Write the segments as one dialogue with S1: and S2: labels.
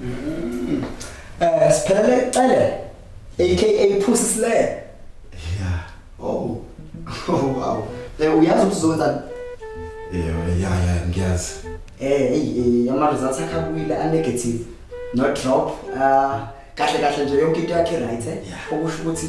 S1: Mm. Eh siphelele icele aka phusi sile. Yeah.
S2: Oh. Oh wow. Eh uyazi ukuthi
S1: uzokwenza Yeah,
S2: yeah, yeah, ngiyazi. Eh, hey, eh,
S1: ama results akhe abuyile a negative. No drop. Ah, kahle kahle nje yonke into yakhe right eh. Okusho ukuthi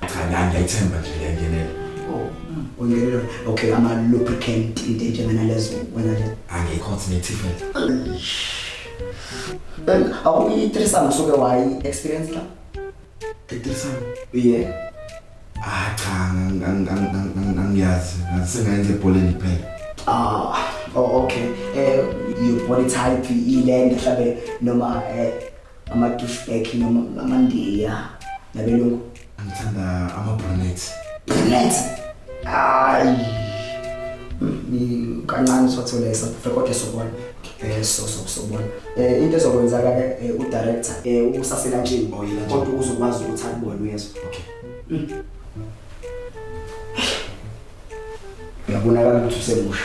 S1: Cha ngani ngiyayithemba
S2: nje ngiyangenela. Oh, mm,
S1: ungenela. Okay, ama lubricant into enjengana lezo wena nje. Angikho thina ethifela.
S2: Then
S1: awuyitrisana usuke wayi experience la? Ethifela. Yeah. Ah
S2: cha ngiyazi ngasengayenza ebholeni phela. Ah, oh okay.
S1: Eh your body type ilenda mhlawumbe noma eh ama-douchebag noma amandiya nabelungu ngithanda
S2: ama-brunet brunet
S1: hayi hmm, kancane sothole safe kodwa sobona eh so so sobona eh into ezokwenzaka ke eh, udirector eh usasela nje oh, kodwa uzokwazi ukuthi akubone uyezwa okay
S2: hmm.
S1: uyabonakala ukuthi usemusha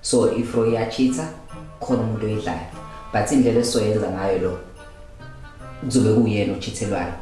S3: so if uyachitha khona umuntu oyidlayo but indlela esoyenza ngayo lo kuzobe kuyena ochithelwayo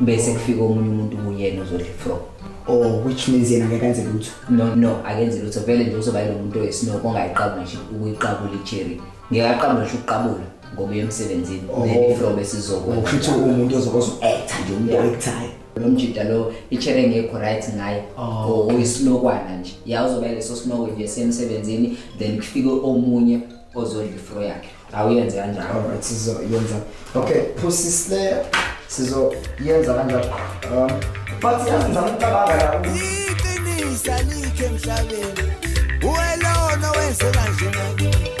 S3: bese kufika omunye umuntu kuyena uzodla ifro or which means
S1: yena ngeke enze lutho no no akenze lutho
S3: vele nje uzoba yilo muntu oyisino kongayiqabula nje ukuyiqabula icherry ngeke aqabule nje ukuqabula ngoba emsebenzini oh. then ifro bese izokwenza ukusho umuntu ozokwazi
S1: uku-actor nje umuntu o-actayo lo mjida lo
S3: itshere engekho right ngaye oh, or uyisinokwana nje ya uzoba leso sinoko nje semsebenzini then kufike omunye ozodla ifro yakhe awuyenze kanjalo alright sizoyenza
S1: okay pussy slayer sizoyenza kanjalo um but yazi ngizama ukucabanga la iqinisa
S4: like emhlabeni uwelona wenze kanje